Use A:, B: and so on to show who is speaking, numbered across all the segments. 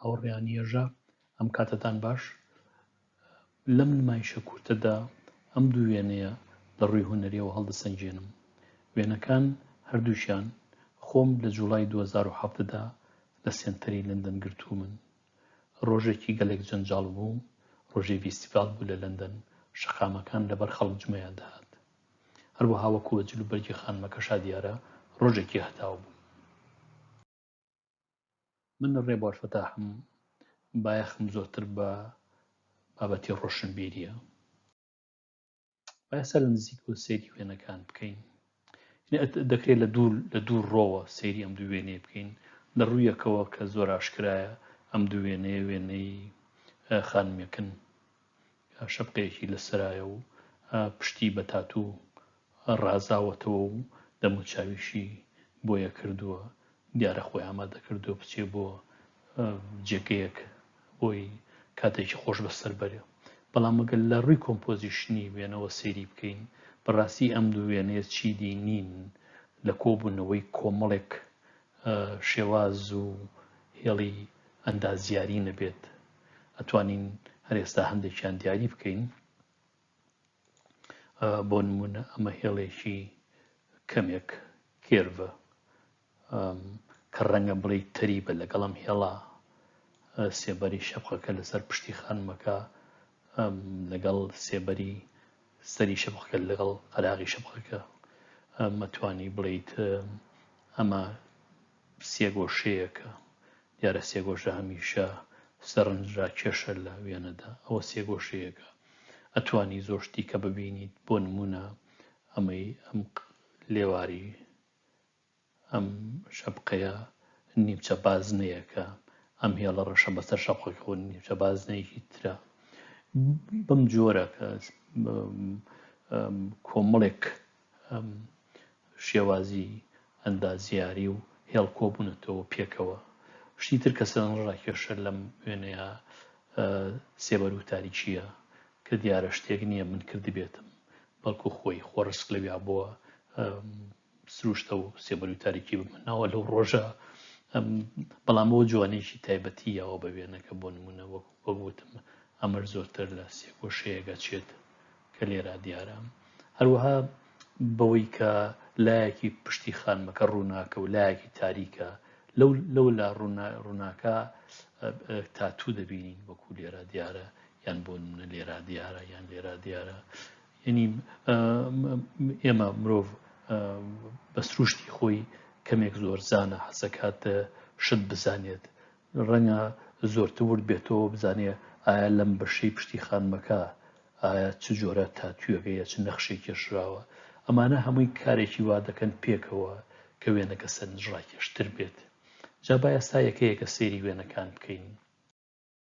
A: هاوڕێیان یەژا ئەم کاتتان باش لەم نمایشە کورتەدا ئەم دوو وێنەیە لە ڕووی هونەریەوە هەڵدەسەنجێنم وێنەکان هەردووشیان خۆم لە جوڵای 2010دا لە سێنتەری لەندەن گرتوو من ڕۆژێکی گەلێک جەنجاڵ بوو ڕۆژی ڤیستیڤال بوو لە لەندەن شەقامەکان لەبەر خەڵک جمەیان دەهات هەروەها وەکووە جلوبەرگی خانمەکەشا دیارە ڕۆژێکی هەتاو بوو من ڕێ بۆ فەتاحم بایەخم زۆرتر بە بابەتی ڕۆشنبیریە باسە لە نزیک و سێری وێنەکان بکەین دەکرێت لە دوور لە دوور ڕۆوە سێری ئەم دوو وێنێ بکەین لە ڕوویەکەوە کە زۆر ئاشکرایە ئەم دوو وێنەیە وێنەی خانمەکن شەپقەیەکی لەسەرایە و پشتی بە تاتوو ڕازاوەتەوە و دەموچاویشی بۆیە کردووە، دیارە خۆی ئامادە کردووە بچێ بۆ جێگەیەک بۆی کاتێکی خۆش بەسەر بەرێ. بەڵام ئەگەر لە ڕووی کۆمپۆزیشنی وێنەوە سەیری بکەین، بەڕاستی ئەم دوو وێنەیە چیدی نین لە کۆبوونەوەی کۆمەڵێک شێواز و هێڵی ئەندازیاری نەبێت ئەتوانین هەر ئێستا هەندێکیان دیاری بکەین بۆ نمونە ئەمە هێڵێکی کەمێک کێرڤە کە ڕەنگە بڵی تەری بە لەگەڵم هێڵا سێبەری شەقەکە لەسەر پشتی خانمەکە لەگەڵ سێبەری سەری شەپقەکە لەگەڵ قەراغی شەپقەکە مەتوانی بڵیت ئەمە سێگۆشەیەکە دیارە سێگۆشە هەمیشە سەرنجرا کێشە لە وێنەدا ئەوە سێگۆشەیەەکە ئەتوانی زۆر شتیکە ببینیت بۆ نمونە ئەمەی ئەم لێواری ئەم شەپقەیە نیمچە بازنەیەکە، ئەم هێڵە ڕەشە بەسەر شەپقەکەەوە نیمچە بازنەیەکی ترە بەم جۆرە کە کۆمەڵێک شێوازی ئەندازیاری و هێڵ کۆبوونەتەوە پێکەوە شتی تر کە سەرڕاکێشە لەم وێنەیە سێبەر و تاریکیە کە دیارە شتێک نییە من کردبێتم بەڵکو خۆی خۆڕسک لەویا بووە سروشتە و سێبەر و تاریکی بمناوە لەو ڕۆژە بەڵام بۆ جوانێکی تایبەتی یاوە بە وێنەکە بۆ نمونە وەک وەگوتم ئەمەر زۆرتر لە سێگۆشەیەگە چێت کە لێرا دیارە هەروەها بەوەی کە لایەکی پشتی خانمەکە ڕووناکە و لایەکی تاریکە لەو لەو لا ڕووناکە تاتوو دەبینین وەکو لێرا دیارە یان بۆ نمونە لێرا دیارە یان لێرا دیارە یەنی ئێمە مرۆڤ بە سروشتی خۆی کەمێک زۆر زانە حەسەکات شت بزانێت ڕەنگە زۆرتە ورد بێتەوە بزانێ ئایا لەم بەشەی پشتی خانمەکە ئایا چ جۆرە تا توێگەیە چ نەخشێک کێشراوە ئەمانە هەمووی کارێکی وا دەکەن پێکەوە کە وێنەکە سەرنجڕاکێشتر بێت جا با ئێستا یەکەیەکە سێری وێنەکان بکەین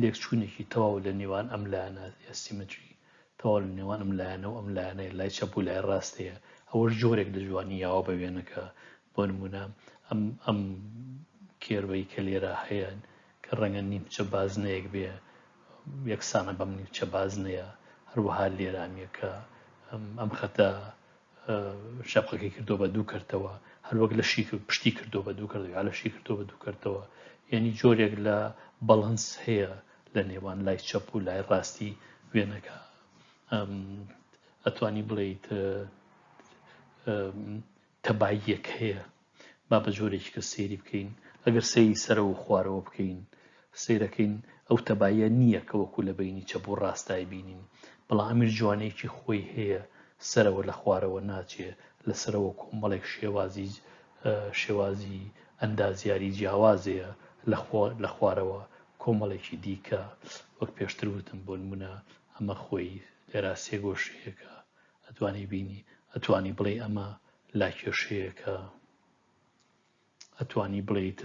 A: لێکچوونێکی تەواو لە نێوان ئەم لایەنە ئەسیمەتری تەواو لە نێوان ئەم لایەنە و ئەم لایەنەی لای چەپ و لای ڕاست هەیە ئەوەش جۆرێک لە جوانی یاوە بە وێنەکە بۆ نمونە ئەم ئەم کێربەی کە لێرە هەیە کە ڕەنگە نیمچە بازنەیەک بێ یەکسانە بەم نیمچە بازنەیە هەروەها لێرە ئەم یەکە ئەم خەتە شەقەکەی کردو بە دوو کردەوە هەروەک لە شی پشتی کردو بە دوو کردەوە لە شی کردو بە دوو کردەوە یعنی جۆرێک لە بەڵنس هەیە لە نێوان لای چەپ و لای ڕاستی وێنەکە ئەتوانی بڵیت تەباییەک هەیە با بە جۆرێکی کە سەیری بکەین ئەگەر سەیری سەرەوە و خوارەوە بکەین سەیرەکەین ئەو تەبایە نییە کە وەکو لە بینی چەپ و ڕاستای بینین بەڵام ئەمیر جوانەیەکی خۆی هەیە سەرەوە لە خوارەوە ناچێ لە سەرەوە کۆمەڵێک شێوازی شێوازی ئەندازیاری جیاوازەیە لە خوارەوە کۆمەڵێکی دیکە وەک پێشتر وتم بۆ نمونە ئەمە خۆی لێرا سێگۆشەیەەکە ئەتوانی بینی ئەتوانی بڵێ ئەمە لا کێشەیەکە ئەتوانی بڵیت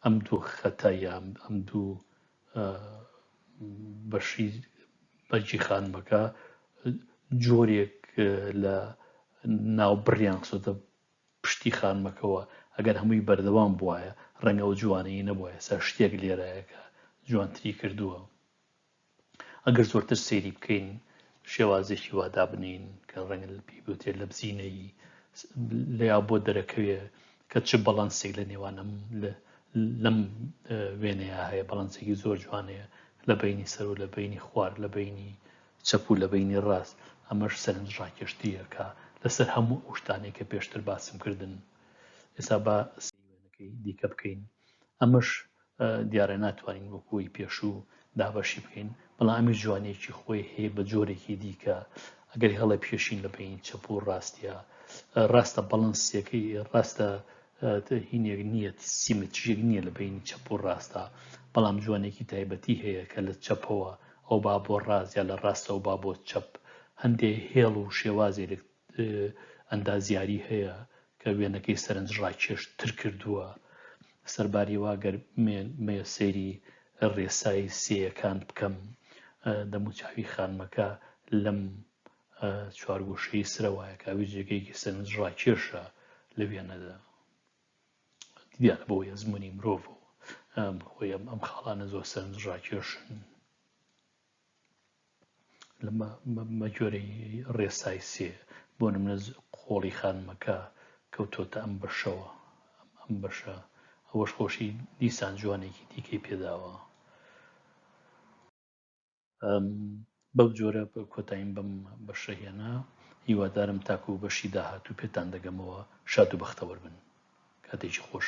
A: ئەم دوو خەتە یان ئەم دوو بەشی بەجی خانمەکە جۆرێک لە ناو بڕیان خسۆتە پشتی خانمەکەەوە ئەگەر هەمووی بەردەوام بواە ڕەنگە و جوانەی نەبووە سا شتێک لێرایەکە جوانتری کردووە ئەگەر زۆرتر سەیری بکەین شێوازێکی وا دابنێین کە ڕەنگە پێی بوتێ لە بزینەیی لە یا بۆ دەرەکەوێ کە چ بەڵەنسێک لە نێوانم لەم وێنەیە هەیە بەڵەنسێکی زۆر جوانەیە لە بینی سەر و لە بینی خوار لە بینی چەپ و لە بینی ڕاست ئەمەش سەرنج ڕاکێشتریەکە لەسەر هەموو ئەو شتانێک کە پێشتر باسم کردن ئێستا بە سیوێنەکەی دیکە بکەین ئەمەش دیارە ناتوانین وەکوی پێشوو دابەشی بکەین بەڵام ئەمیش جوانێکی خۆی هەیە بە جۆرێکی دیکە ئەگەر هەڵە پێشین لە بین چەپ و ڕاستە ڕاستە بەڵنسیەکەی ڕاستە هینێک نییە سیمەتریەک نییە لە بینی چەپ و ڕاستە بەڵام جوانێکی تایبەتی هەیە کە لە چەپەوە ئەو با بۆ ڕاستە لە ڕاستە و با بۆ چەپ هەندێک هێڵ و شێوازێک ئەندازیاری هەیە کە وێنەکەی سەرنجڕاکێش تر کردووە سەرباریەوە گەر مێ سێری ڕێسای سێیەکان بکەم دەموچوی خانمەکە لەم چوارگۆشەی سرەوایەکاوی جێگەیەکی سەرنج ڕاکێشە لە وێنەدا دیارە بۆ یەزمموی مرۆڤ خۆی ئەم خاڵانە زۆر سەرنج ڕاکێشن بە گوێرەی ڕێسای سێ بۆ نمونە قۆڵی خانمەکە کەوتۆتە ئەم بەشەوە ئەم بەشە ئەوەش خۆشی دیسان جوانێکی دیکەی پێداوە بەو جۆرە کۆتاییم بم بە شەهێنا هیوادارم تاکو و بەشی داهاتوو پێتان دەگەمەوە شاد و بەختەوەر بن کاتێکی خۆش